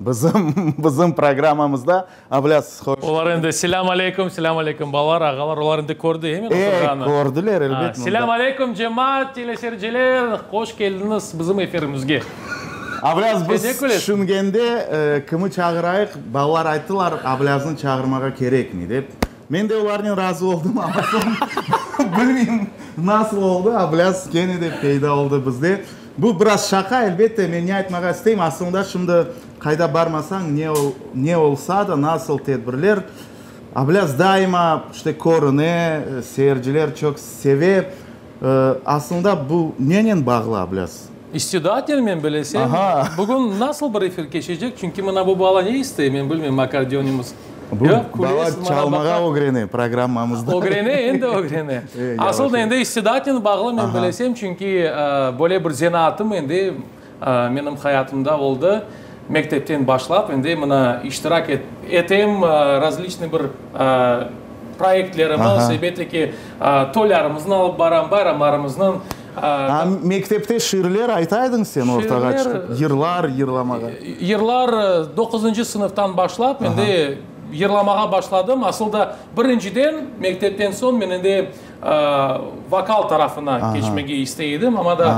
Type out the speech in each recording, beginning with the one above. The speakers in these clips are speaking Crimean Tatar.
Bizim, bizim programamızda avlâsız, hoş. Olar endi, selâm aleykum, selâm aleykum, balalar, ağalar, olar endi kördi, he, men oturğanı. Ey, kördiler, elbet, mında. Selâm aleykum, cemaat, telesericeler, hoş keldiñiz bizim efirimizge. Avlâz, biz tüşüngende, kimi çağırayıq, balalar ayttılar, avlâznı çağırmağa kerekmey, dep. Men de olarnen razı oldım, amma soñ bilmeyim nasıl oldı, ablâz kene de peyda oldı bizde. Bu biraz şaqa, elbette, men ne aytmağa isteyim, asılında şimdi qayda barmasañ, ne ne olsa da, nasıl tedbirler, ablâz daima işte körüne, seyirciler çoq seve. Asılında bu nenen bağlı, ablâz? İstidaaten men bilesem. Bugün nasıl bir efir keçecek? Çünki mına bu bala ne istey, men bilmeyim, akkordeonımız. Bu bala çalmağa ögrene programmamızda. Ögrene, endi ögrene. Asıl da endi istidaaten bağlı, men bilesem, çünki böyle bir zenaatım endi Menim hayatımda oldı, mektepten başlap, endi mına iştirak etem, razliçnıy bir proyektlerimiz, elbette ki, toylarımıznı alıp baram, bayramlarımıznıñ. Ha, mektepte şiirler ayta ediñ sen ortağa çıqıp, yırlar yırlamağa? Yırlar doquzıncı sınıftan başlap, endi yırlamağa başladım. Asıl da, birinciden, mektepten soñ men endi. Vokal tarafına keçmege istey edim, amma da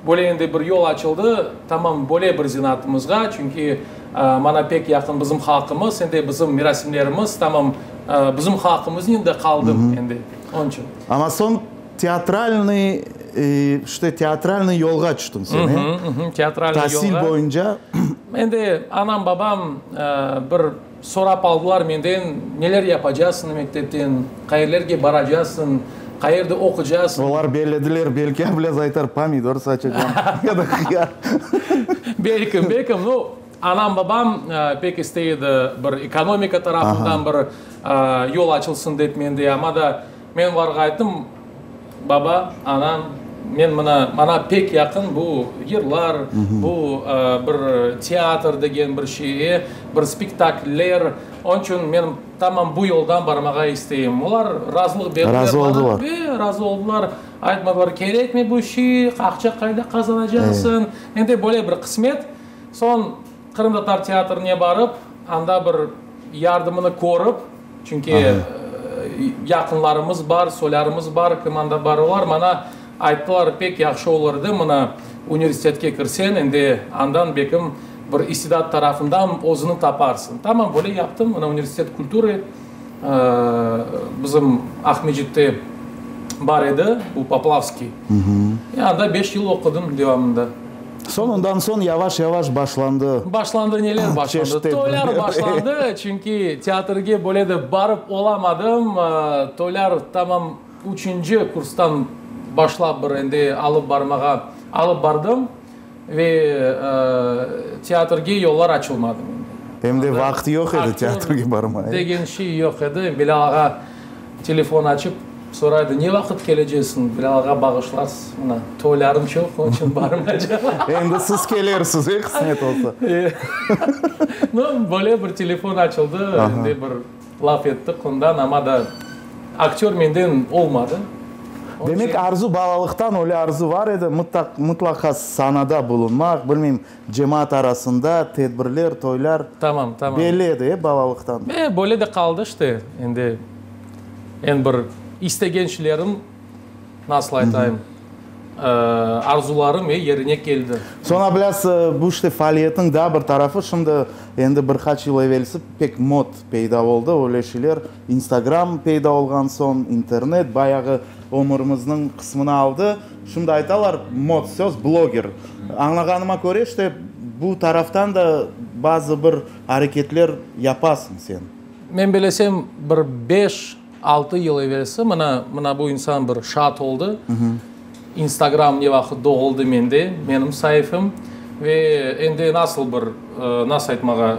böyle endi bir yol açıldı, tamam böyle bir zenatımızğa, çünki maña pek yaqın bizim halqımız, endi bizim merasimlerimiz, tamam bizim halqımıznen de qaldım endi, onıñ içün. Amma soñ teatralnıy, işte teatralnıy yolğa tüştün sen, e? Teatralnıy yolğa. Tasil boyunca. Endi anam-babam bir. Sorap aldılar menden, neler yapacasıñ mektepten, qayerlerge baracasıñ, qayerde oqucasıñ? Olar bellediler, belki ablâz aytar, pomidor saçacam ya da hıyar. Belkim, belkim. No, anam, babam pek istey edi, bir ekonomika tarafından bir yol açılsıñ dep mende, amma da. Men olarğa ayttım, Baba, ana, men mına, maña pek yaqın bu yırlar, bu bir teatr degen bir şeye, bir spektakller, onıñ içün men tamam bu yoldan barmağa isteyim. Olar razılıq berdiler maña ve razı oldılar. Aytmadılar, kerekmi bu şey, aqça qayda qazanacaqsıñ, endi böyle bir qısmet. Soñ. Qırımtatar teatrine barıp, anda bir yardımını körip, çünki yaqınlarımız bar, soylarımız bar, kim anda bar, olar maña ayttılar, pek yahşı olur edi, mına, universitetke kirsen, endi andan belkim bir istidat tarafından özüni taparsıñ. Tamam, böyle yaptım, mına, Universitet kultury, bizim Aqmecitte bar edi, bu Poplavskiy, anda beş yıl oqudım devamında. Soñ, ondan soñ yavaş-yavaş başlandı. Başlandı, neler başlandı? Toylar başlandı, çünki teatrge böyle de barıp olamadım. Toylar tamam üçünci kurstan başlap bir endi alıp barmağa alıp bardım ve teatrge yollar açılmadı mende. Em de vaqıt yoq edi teatrge barmağa. Aktör degen şey yoq edi. Bilâl ağa Telefon açıp, soraydı, ne vaqıt kelecesiñ, Bilalğa bağışlarsız, mına, toylarım çoq, onıñ içün barmaycam. Endi siz kelersiz, e, qısmet olsa. No, böyle bir telefon açıldı, endi bir laf ettik ondan, amma da aktör menden olmadı. Demek, arzu balalıqtan öyle arzu bar edi, mıtlaqa sahnada bulunmaq, bilmeyim, Cemaat arasında tedbirler, toylar Tamam, tamam. belli edi, e, balalıqtan. E, böyle de qaldı işte, endi eñ bir istegençlerim, nasıl aytayım, ııı, arzularım, e, yerine keldi. Soñra biraz bu işte faaliyetniñ daa bir tarafı, şimdi endi bir qaç yıl evelsi pek mod peyda oldı, öyle şeyler. İnstagram peyda olğan soñ internet bayağı ömürimizniñ qısmını aldı. Şimdi aytalar mod söz bloger. Añlağanıma köre işte bu taraftan da bazı bir areketler yapasıñ sen. Men belesem bir beş, altı yıl evelsi mına, mına bu insan bir şaat oldı. Instagram ne vaqıt doğuldı mende, menim saifem, ve endi nasıl bir, nasıl aytmağa,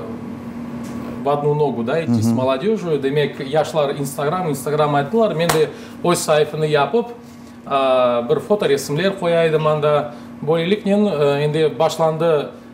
v odnu nogu da iti s molodežüü, demek, yaşlar Instagram, Instagram ayttılar, men de öz saifeni yapıp, bir fotoresimler qoya edim anda. Böyleliknen endi başlandı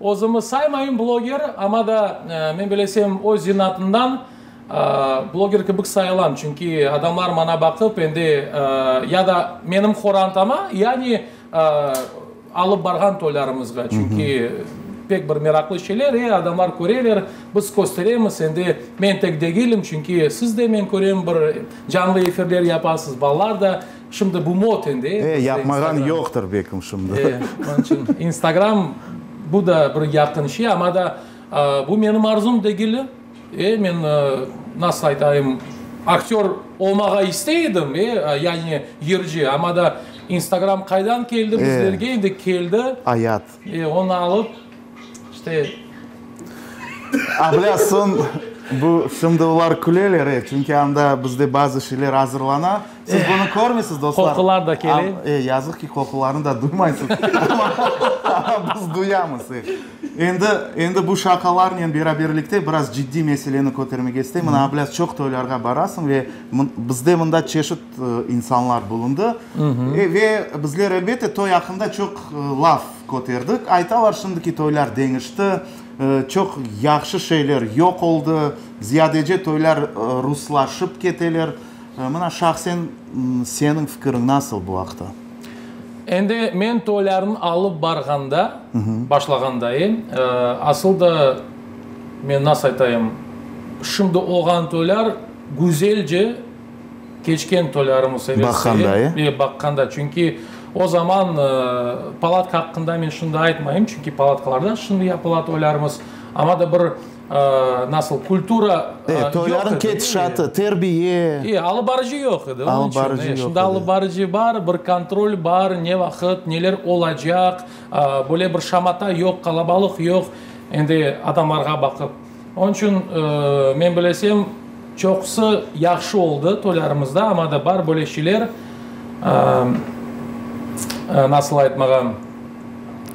Özümi saymayım bloger, amma da, men bilesem, öz zinatından bloger kibik sayılam, çünki adamlar maña baqıp, endi ya da menim horantama, yani alıp barğan toylarımızğa, çünki pek bir meraqlı şeyler, e, adamlar köreler, biz kösteremiz, endi men tek degilim, çünki siz de, men körem, bir canlı efirler yapasız, balalar da. Şimdi bu moten de. E, yapmağan yoqtır bekim şimdi. E, onun için instagram bu da bir yaqın şey, ama da bu menim arzum degil. E, men nasıl aytayım, aktör olmağa istey edim, e, yani yırcı, ama da instagram qaydan keldi bizlerge, endi keldi. Ayat. Ve onı alıp, işte, Ablâsın, bu, şimdi olar küleler, e, çünki anda bizde bazı şeyler azırlana. Siz bunı körmeysiz, dostlar. Qoqular da kele. Am, e, yazıq ki, qoqularını da duymaysız. Amma, amma biz duyamız, e. Endi, endi bu şaqalarnen beraberlikte biraz ciddiy meseleni kötermege isteyim. Mına, ablâs, çoq toylarğa barasıñ ve mın, bizde mında çeşit, insanlar bulundı. Ve bizler, elbette, toy aqqında çoq laf köterdik. Aytalar, şimdiki toylar deñişti, çoq yahşı şeyler yoq oldı, ziyadece toylar ruslaşıp keteler. Mına, şahsen seniñ fikiriñ nasıl bu aqta? Endi men toylarnı alıp barğanda, başlağandayım, asıl da, men nasıl aytayım, şimdi olğan toylar güzelce, Keçken toylarımız severseler ve baqqanda, çünki o zaman palatka aqqında men şimdi aytmayım, çünki palatkalarda şimdi yapıla toylarımız, amma da bir nasıl kultura yoq edi. Toyların ketişatı, terbiye. Alıbarıcı yoq edi, onun içün. Şimdi alıbarıcı bar, bir kontrol bar, ne vaqıt, neler olacaq, böyle bir şamata yoq, qalabalıq yoq, endi adamlarğa baqıp. Onıñ içün, men bilesem, çoqusı yahşı oldı toylarımızda, amma da bar böyle şeyler, nasıl aytmağa.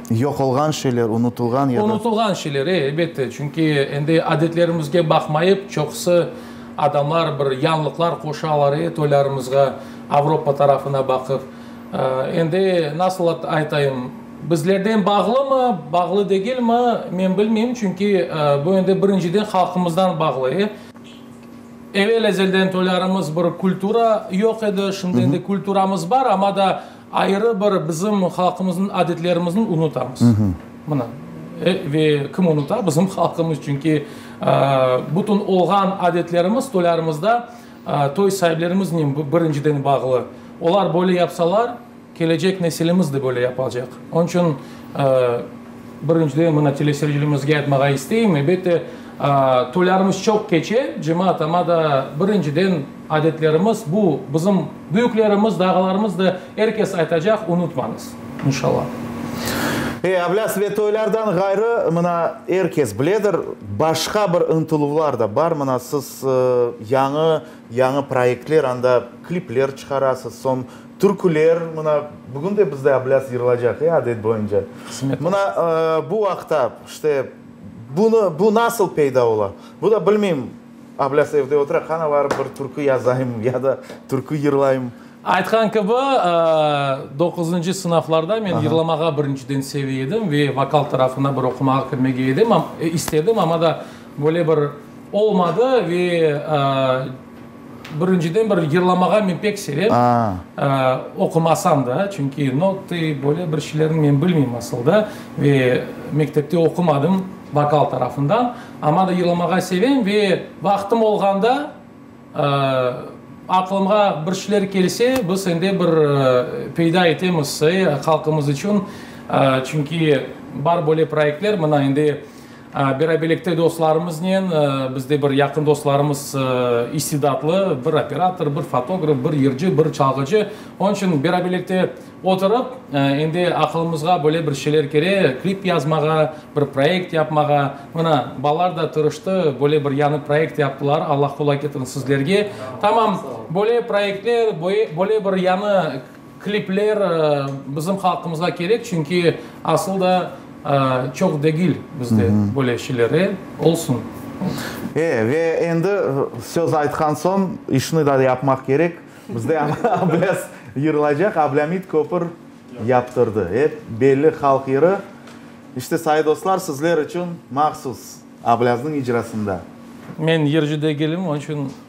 Yoq olğan şeyler, unutılğan ya da. Unutılğan şeyler, e, elbette. Çünki endi adetlerimizge baqmayıp, çoqusı adamlar bir yañlıqlar qoşalar, e, toylarımızğa, Avropa tarafına baqıp. Endi nasıl aytayım. Bizlerden bağlımı, bağlı degilmi, men bilmeyim, çünki bu endi birinciden halqımızdan bağlı. Evel ezelden toylarımız bir kultura yoq edi, şimdi endi kulturamız bar, amma da ayrı bir bizim halqımıznıñ adetlerimizniñ unutamız. Mına, ve kim unuta? Bizim halqımız, çünki bütün olğan adetlerimiz toylarımızda toy sahiblerimiznen birinciden bağlı. Olar böyle yapsalar. Kelecek nesilimiz de böyle yapacaq. Onıñ içün, birinciden, mına teleseyircilerimizge aytmağa isteyim, ebette, toylarımız çoq keçe, cemaat, amma da, birinciden, adetlerimiz, bu, bizim büyüklerimiz de, ağalarımız da, er kes aytacaq, unutmañız, inşallah. E, ablâs, ve toylardan ğayrı, mına, er kes biledir, başqa bir ıntıluvlar da bar, mına, siz yañı, yañı proyektler, anda klipler çıqarasız, soñ Türküler, mına, bugün de bizde ablâz yırılacaq, e, adet boyunca. Qısmet Mına, olsun. ıı, bu aqta, işte, bunı, bu nasıl peyda ola? Bu da bilmeyim, ablâz evde otura, qana barıp bir türkü yazayım ya da türkü yırlayım. Aytqan kibi, ıı, doquzıncı sınıflarda men yırlamağa birinciden seve edim ve vokal tarafına bir oqumağa kirmege edim, istedim, amma da böyle bir olmadı ve, ıı, Birinciden bir yırlamağa men pek sevem, oqumasam da, çünki notı, böyle bir şeylerni men bilmeyim asılda ve mektepte oqumadım vokal tarafından. Amma da yırlamağa sevem ve vaqtım olğanda, aqlımğa bir şeyler kelse, biz sende bir peyda etemiz halqımız içün, çünki bar böyle proyektler, mına indi. Beraberlikte dostlarımıznen, bizde bir yaqın dostlarımız istidatlı, bir operator, bir fotograf, bir yırcı, bir çalğıcı. Onıñ içün beraberlikte oturıp, endi aqılımızğa böyle bir şeyler kere, klip yazmağa, bir proyekt yapmağa. Mına, balalar da tırıştı, böyle bir yañı proyekt yaptılar, Allah quvvet ketirsin sizlerge. Tamam, böyle proyektler, böyle bir yañı Klipler bizim halqımızğa kerek, çünki asıl da çoq degil bizde böyle şeyler. E, olsun. E, ve endi söz aytqan soñ işni da yapmaq kerek. Bizde ablâs yırılacaq, ablâmit köpür yaptırdı. E, belli halq yırı. İşte, sayı dostlar, sizler içün mahsus, ablâznıñ icrasında. Men yırcı degilim, onı içün.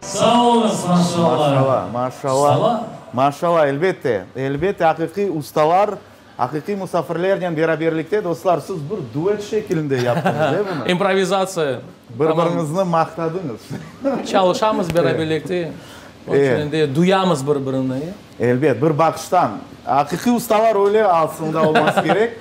Sağ olunız, maşalla! Maşalla, maşalla. Maşalla, elbette, elbette, aqiqiy ustalar, aqiqiy musafirlernen beraberlikte, dostlar, siz bir duet şekilinde yaptıñız, e, bunı? İmprovizatsiya. Bir biriñizni maqtadıñız. Çalışamız beraberlikte, onıñ içün de duyamız bir birini. Elbet, bir baqıştan. Aqiqiy ustalar öyle aslında olması kerek.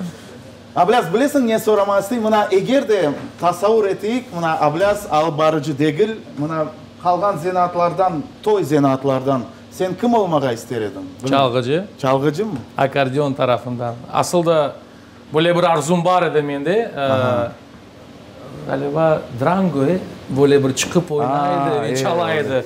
Ablâz, bilesiñ, ne sorama isteyim? Mına, eger de tasavur eteyik, mına, ablâz alıp barıcı degil, mına, qalğan zenaatlardan, toy zenaatlardan sen kim olmağa ister ediñ? Çalğıcı. Çalğıcımı? Akkordeon tarafından. Asıl da böyle bir arzum bar edi mende. Ğaliba, Drangoy böyle bir çıqıp oynay edi ve çala edi.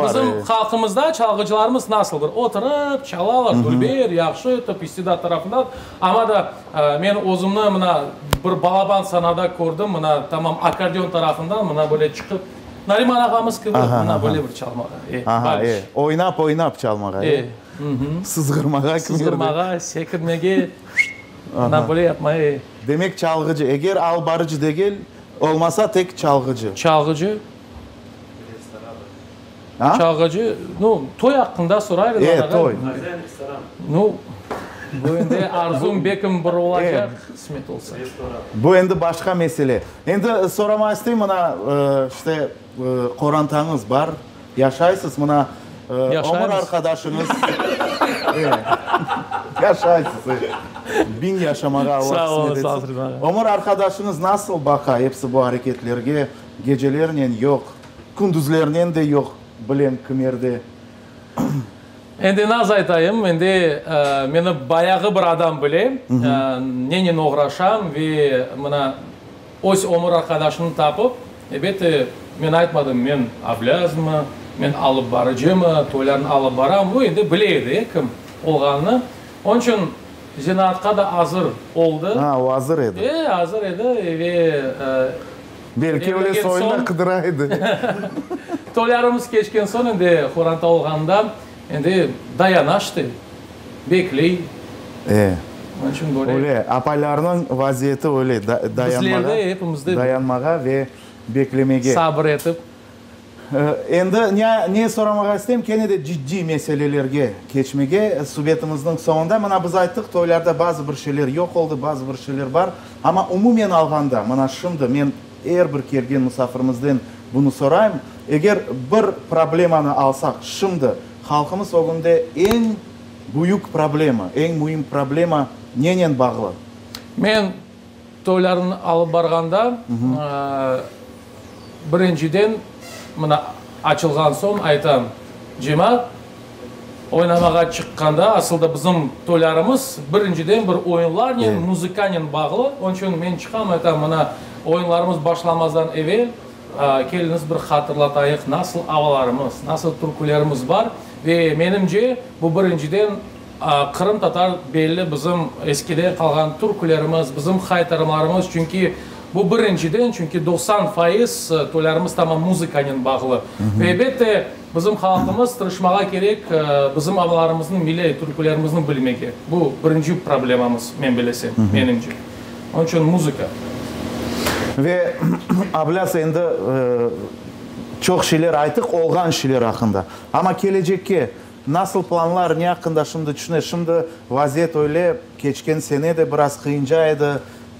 Bizim halqımızda çalğıcılarımız nasıl bir oturıp çalalar, dülber, yahşı etip, istidat tarafında. Amma da men özümni mına bir balaban sanada kördim, mına tamam akkordeon tarafından mına böyle çıqıp, Nariman ağamız kibi mına böyle bir çalmağa. Aha, e, oynap, oynap çalmağa, e? Sızğırmağa. Sızğırmağa, sekirmege, mına böyle yapmağa, e. Demek, çalğıcı, eger al barıcı degil, olmasa tek çalğıcı. Çalğıcı. A? Çalğıcı, nu, toy aqqında soraylı. E, toy. Nu, bu endi arzum bekim bir olacaq, qısmet olsa. Bu endi başqa mesele. Endi soramaq isteyim, mına, işte, qorantañız bar, Yaşaysız, mına, ömür arqadaşıñız. Yaşaysız, e, biñ yaşamağa Allah qısmet etsin. Ömür arqadaşıñız nasıl baqa episi bu areketlerge, gecelernen yoq, kündüzlernen de yoq, bilem kimerde. Endi naz aytayım, endi meni bayağı bir adam bile, nenen oğraşam ve mına, Öz ömür arqadaşını tapıp, ebette, men aytmadım, men oblâzmı, men alıp barıcımı, toylarnı alıp baramı, o endi bile edi, kim olğanını, onıñ içün zenaatqa da azır oldı. Ha, o azır edi. E, azır edi ve Belki öyle soyunda qıdıra edi. toylarımız keçken soñ, endi Horanta olğanında, Endi dayana işte, bekley. E, öyle, apalarnıñ vaziyeti öyle, dayanmağa ve beklemege. Sabır etip. Endi ne soramağa isteyim, kene de ciddiy meselelerge keçmege, subetimizniñ soñunda, mına biz ayttık, toylarda bazı bir şeyler yoq oldı, bazı bir şeyler bar, amma umumen alğanda, mına şimdi men. Er bir kelgen musafirimizden bunı sorayım, eger bir problemanı alsaq, şimdi halqımız ögünde eñ büyük problema, eñ müim problema nenen bağlı? Men toylarnı alıp barğanda, birinciden, mına açılğan soñ aytam, cemaat Oynamağa çıqqanda, asıl da bizim toylarımız birinciden bir oyunlarnen, muzıkanen bağlı. Onıñ içün men çıqam, aytam, mına, oyunlarımız başlamazdan evel keliñiz bir hatırlatayıq, nasıl avalarımız, nasıl türkülerimiz bar. Ve menimce, bu birinciden qırımtatar belli bizim eskiden qalğan türkülerimiz, bizim haytarımlarımız. Çünki bu birinciden, çünki doqsan fayız toylarımız tamam muzıkanen bağlı. Ve, elbette, Bizim halqımız tırışmağa kerek, bizim avalarımıznıñ, milliy türkülerimizniñ bilmege. Bu birinci problemamız, men bilesem, menimce. Onıñ içün muzıka. Ve ablâs, endi çoq şeyler aytıq, olğan şeyler aqqında. Amma kelecekke nasıl planlar, ne aqqında şimdi tüşüne? Şimdi vaziyet öyle, keçken sene de biraz qıyınca edi.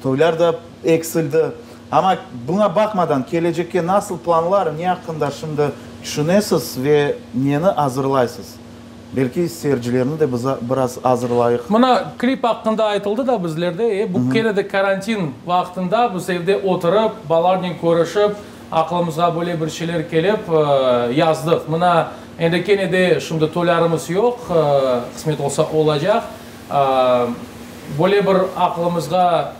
Toylar da eksildi. Amma buña baqmadan, kelecekke nasıl planlar, ne aqqında şimdi tüşünesiz ve neni azırlaysız? Belki seyircilerni de biz biraz azırlayıq. Mına, klip aqqında aytıldı da bizlerde, e, bu kene de karantin vaqtında biz evde oturıp, balalarnen körüşip, aqlımızğa böyle bir şeyler kelip, yazdıq. Mına, endi kene de şimdi toylarımız yoq, qısmet olsa olacaq. Böyle bir aqılımızğa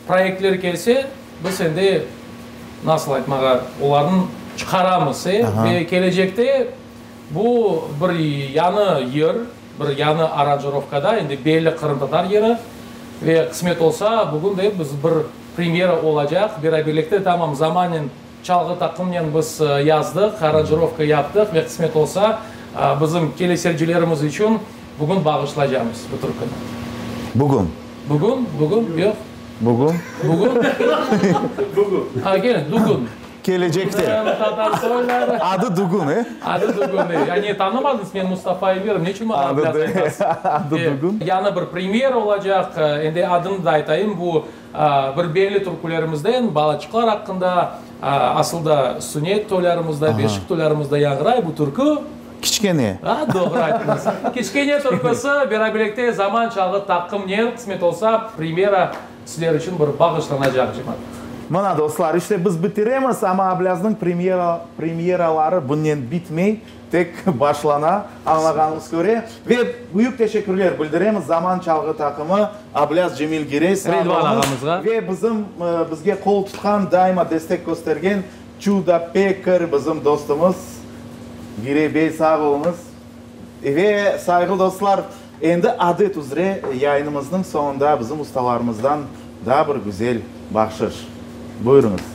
proyektler kelse, biz endi, nasıl aytmağa, olarnı çıqaramız ve kelecekte bu bir yañı yer, bir yañı aranjirovkada, endi belli qırımtatar yeri ve qısmet olsa, bugün de biz bir premyera olacaq, beraberlikte, tamam, zamanen, Çalğı taqımnen biz yazdıq, aranjirovka yaptıq ve qısmet olsa, bizim kelesevcilerimiz içün bugün bağışlaycamız bu türküni. Bugün? Bugün, bugün, yoq. Bugün? Bugün. Bugün. Ha, keling, Dugün. Kelecekte. Dugün, tatar soyları. Adı Dugün, e? Adı Dugün, e. Ya ne, tanımadınız, men Mustafa Emirov, ne içün maña biraz aytasız? Adı Dugün. Yañı bir premyera olacaq, endi adını da aytayım, bu. Bir belli türkülerimizden Balaçıqlar aqqında, asıl da Sünet toylarımızda, Beşik toylarımızda yañğıray bu türkü. Kiçkene. Doğru ayttınız. Kiçkene türküsü beraberlikte Zaman çalğı taqımnen, qısmet olsa, premyera sizler içün bir bağışlanacaq, cemaat. Mına, dostlar, işte biz bitiremiz, amma Ablaznıñ premyeraları bunnen bitmey. Tek başlana, añlağanıñız köre. Ve büyük teşekkürler bildiremiz Zaman çalğı taqımı, Ablâz Cemil Girey, sağ olunız, ve bizim, bizge qol tutqan, daima destek köstergen Çuda Pekar bizim dostumuz, Girey bey, sağ olunız. Ve, sayğılı dostlar, endi adet üzre yayınımıznıñ soñunda bizim ustalarımızdan daa bir güzel bahşış. Buyurıñız.